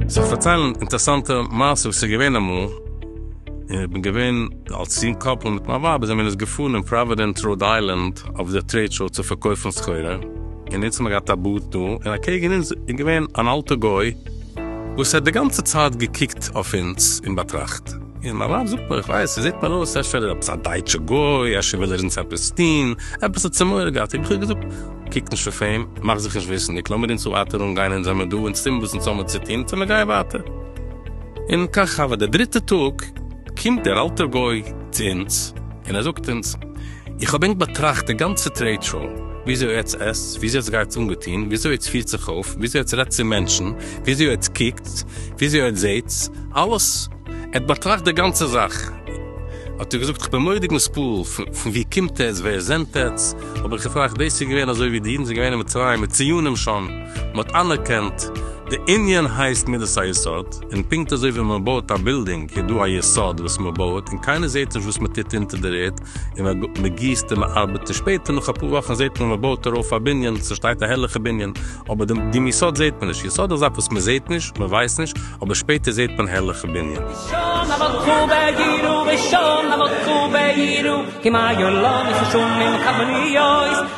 זיך פארציילן אינטערסאנטע מעשה וואס איז געווען אמאל, איך בין געווען אלס יונג קאפל מיט מיין ווייב זעמיר אונז געפארן אין פראווידענס ראוד איילענד אויף די טרעיד שאו צו פארקויפן סחורה, און אונז האמיר געהאט א בארד דא, און אקעגן אונז איז געווען אן אלטע גוי, וואס ער האט די גאנצע צייט געקוקט אויף אונז און באטראכט. און מיין ווייב זאגט מיר, איך ווייס, ער זעט מיר אויס, אפשר איז ער עפעס א דייטשע גוי, אפשר וויל ער אונז עפעס טון, עפעס האט ער מורא געהאט. איך האב געזאגט, קוק נישט אויף אים, מאך זיך נישט וויסנדיג, לאמיר אונז ווייטער אנגיין, אונז זעמיר דא, אונז טון וואס אונז האמיר צו טון, צו מיר גייען ווייטער. און כך הוה, די דריטע טאג קומט דער אלטער גוי צו אונז, און ער זאגט אונז, איך האב ענק באטראכט די גאנצע טרעיד שאו, וויאזוי עטץ עסטס, וויאזוי עטץ גייטס אנגעטוהן, וויאזוי עטץ פירט זיך אויף, וויאזוי עטץ רעדט צו מענטשן, וויאזוי עטץ קוקטס, וויאזוי עטץ זעהטס, אלעס. ער האט באטראכט די גאנצע זאך. האט ער געזאגט, כ'בין מורא'דיג נספעל, פון ווי קומט עטץ, ווער זענט עטץ? האב איך געפרעכט, דאס איז געווען אזוי ווי די אידן זענען געווען אין מצרים, מיט ציונים שוין. מ'האט אנערקענט די ענין הייסט מידת היסוד, און פונקט אזוי ווי מ'בויעט א בילדינג איז דא א יסוד וואס מ'בויעט און קיינער זעט נישט וואס מ'טוט אונטער דער ערד און מ'גיסט און מ'ארבעט און שפעטער נאך אפאר וואכן זעט מען מ'בויט ארויף א בנין ס'שטייט א הערליכע בנין אבער דעם יסוד זעט מען נישט, יסוד איז א זאך וואס מ'זעט נישט, מ'ווייסט נישט, אבער שפעטער זעט מען הערליכע בנין. ראשון המלכו בעירו ראשון המלכו בעירו כמעיין לא נחשונים כמניות